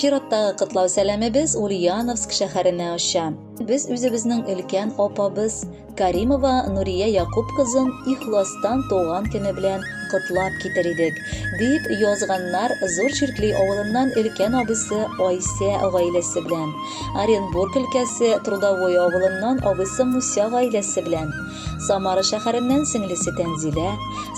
чираттагы котлау сәламебез Ульяновск шәһәренә оча. Без үзебезнең өлкән апабыз Каримова Нурия Якуб кызын ихластан туган көне белән котлап китер идек, дип язганнар Зур Чиркли авылыннан өлкән абысы Айсә гаиләсе белән. Оренбург өлкәсе Трудовой авылыннан абыйсы Муся гаиләсе белән, Самара шәһәреннән сеңлесе Тәнзилә,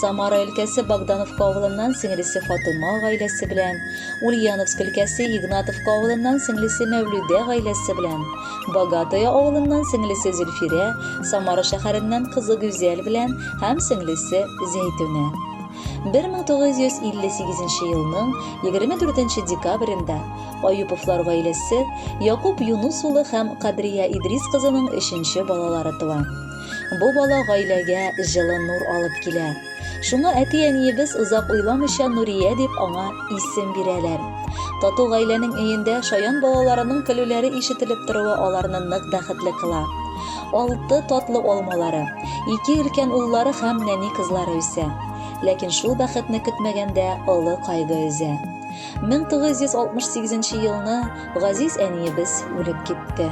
Самара өлкәсе Богдановка авылыннан сеңлесе Фатыма гаиләсе белән, Ульяновск өлкәсе Игнатовка авылыннан сеңлесе Мәүлүдә гаиләсе белән, Богатое авылыннан сеңлесе Зөлфирә, Самара шәһәреннән кызы Гүзәл белән һәм сеңлесе Зәйтүнә. 1958 елның 24 декабрендә Аюповлар гаиләсе Якуб Юнус улы һәм Кадрия Идрис кызының өченче балалары туа. Бу бала гаиләгә җылы нур алып килә. Шуңа әти-әниебез озак уйламыйча Нурия дип аңа исем бирәләр. Тату гаиләнең өендә шаян балаларының көлүләре ишетелеп торуы аларны нык бәхетле кыла. Алты татлы алмалары, ике өлкән уллары һәм нәни кызлары үсә. Ләкин шул бәхетне көтмәгәндә олы кайгы өзә. 1968 елны газиз әниебез үлеп китте.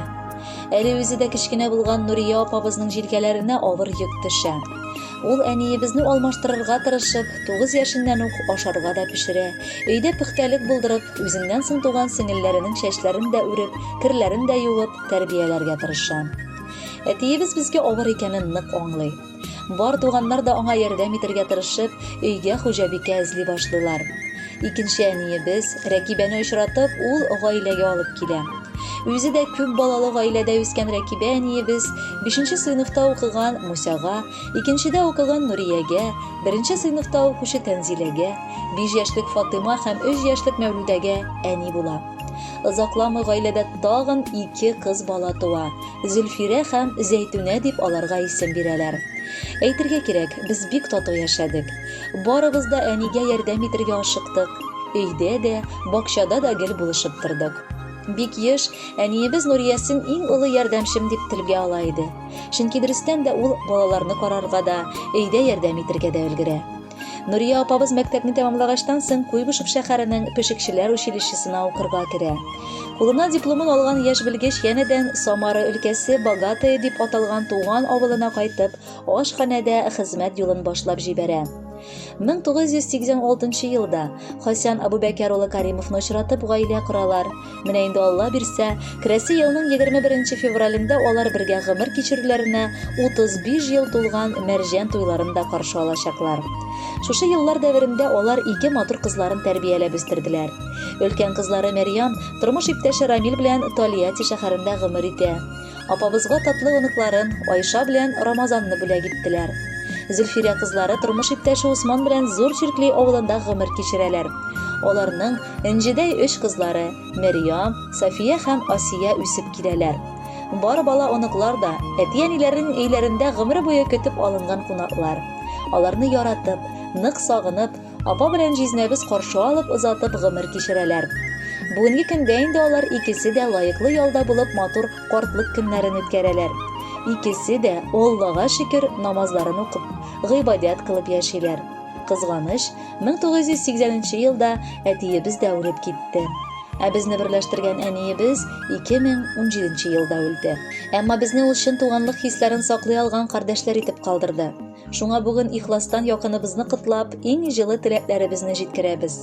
Әле үзе дә кечкенә булган Нурия апабызның җилкәләренә авыр йөк төшә. Ул әниебезне алмаштырырга тырышып, 9 яшеннән үк ашарга да пешерә, өйдә пөхтәлек булдырып, үзеннән соң туган сеңелләренең чәчләрен дә үреп, керләрен дә юып, тәрбияләргә тырыша. Әтиебез безгә авыр икәнен нык аңлый. Бар туганнар да аңа ярдәм итәргә тырышып, өйгә хуҗабикә эзли башлыйлар. Икенче әниебез, Рәкибәне очратып, ул гаиләгә алып килә. Үзе дә күп балалы гаиләдә үскән Рәкибә әниебез бишенче сыйныфта укыган Мусяга, икенчедә укыган Нуриягә, беренче сыйныфта укучы Тәнзиләгә, биш яшьлек Фатыйма һәм өч яшьлек Мәүлүдәгә әни була. Озакламый гаиләдә тагын ике кыз бала туа. Зөлфирә һәм Зәйтүнә дип аларга исем бирәләр. Әйтергә кирәк, без бик тату яшәдек. Барыбыз да әнигә ярдәм итергә ашыктык. Өйдә дә, бакчада да гел булышып тордык. Бик еш әниебез Нуриясен иң олы ярдәмчем дип телгә ала иде. Чөнки дөрестән дә ул балаларны карарга да, өйдә ярдәм итергә дә өлгерә. Нурия апабыз мәктәпне тәмамлагачтан соң Куйбышев шәһәренең пешекчеләр училищесына укырга керә. Кулына дипломын алган яшь белгеч янәдән Самара өлкәсе Богатые дип аталган туган авылына кайтып, ашханәдә хезмәт юлын башлап җибәрә. 1986 елда Хасян Абубәкәр улы Каримовны очратып гаилә коралар. Менә инде Алла бирсә, керәсе елның 21 февралендә алар бергә гомер кичерүләренә 35 ел тулган Мәрҗән туйларын да каршы алачаклар. Шушы еллар дәверендә алар ике матур кызларын тәрбияләп үстерделәр. Өлкән кызлары Мәрьям тормыш иптәше Рамил белән Тольятти шәһәрендә гомер итә. Апабызга татлы оныкларын Айша белән Рамазанны бүләк иттеләр. Зөлфирә кызлары тормыш иптәше Усман белән Зур Чиркли авылында гомер кичерәләр. Аларның Энҗедәй өч кызлары, Мәрьям, Сафия һәм Асия үсеп киләләр. Бар бала-оныклар да, әти-әниләренең өйләрендә гомер буе көтеп алынган кунаклар. Аларны яратып, нык сагынып, апа белән җизнәбез каршы алып, озатып гомер кичерәләр. Бүгенге көндә инде алар икесе дә лаеклы ялда булып матур картлык көннәрен үткәрәләр. Икесе дә, Аллага шөкер, намазларын укып, гыйбадәт кылып яшиләр. Кызганыч, 1980 елда әтиебез дә үлеп китте. Ә безне берләштергән әниебез 2017 елда үлде. Әмма безне ул чын туганлык хисләрен саклый алган кардәшләр итеп калдырды. Шуңа бүген ихластан якыныбызны котлап, иң җылы теләкләребезне җиткерәбез.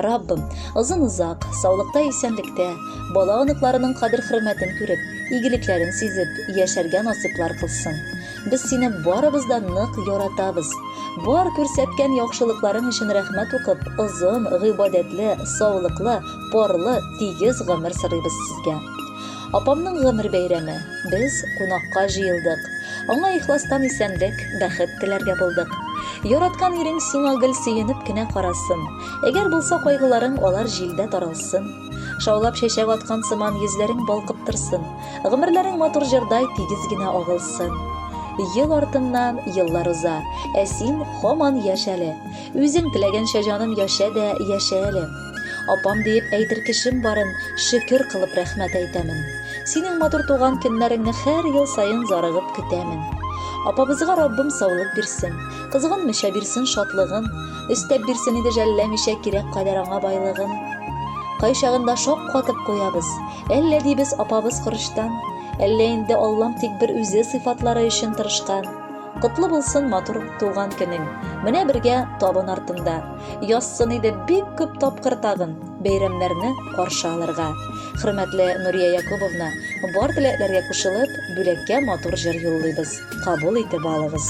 Раббым, озын-озак, саулыкта исәнлектә, бала оныкларының кадер-хөрмәтен күреп, игелекләрен сизеп, яшәргә насыйплар кылсын. Без сине барыбыз да нык яратабыз. Бар күрсәткән яхшылыкларың өчен рәхмәт укып, озын, гыйбадәтле, саулыклы, парлы, тигез гомер сорыйбыз сезгә. Апамның гомер бәйрәме. Без кунакка җыелдык. Аңа ихластан исәнлек, бәхет теләргә булдык. Яраткан ирең сиңа гел сөенеп кенә карасын. Әгәр булса кайгыларың, алар җилдә таралсын. Шаулап чәчәк аткан сыман йөзләрең балкып торсын. Гомерләрең матур җырдай тигез генә агылсын. Ел артыннан еллар уза, ә син һаман яшь әле. Үзең теләгәнчә җаным яшә дә яшә әле. Апам диеп әйтер кешем барын шөкер кылып рәхмәт әйтәмен. Синең матур туган көннәреңне һәр ел саен зарыгып көтәмен. Апабызга Раббым саулык бирсен, кызганмыйча бирсен шатлыгын, өстәп бирсен иде жәлләмичә кирәк кадәр аңа байлыгын. Кайчагында шак катып куябыз, әллә дибез апабыз корычтан, әллә инде Аллам тик бер үзе сыйфатлары өчен тырышкан. Котлы булсын матур туган көнең. Менә бергә табын артында. Язсын иде бик күп тапкыр тагын бәйрәмнәрне каршы алырга. Хөрмәтле Нурия Якубовна, бар теләкләргә кушылып, бүләккә матур җыр юллыйбыз. Кабул итеп алыгыз.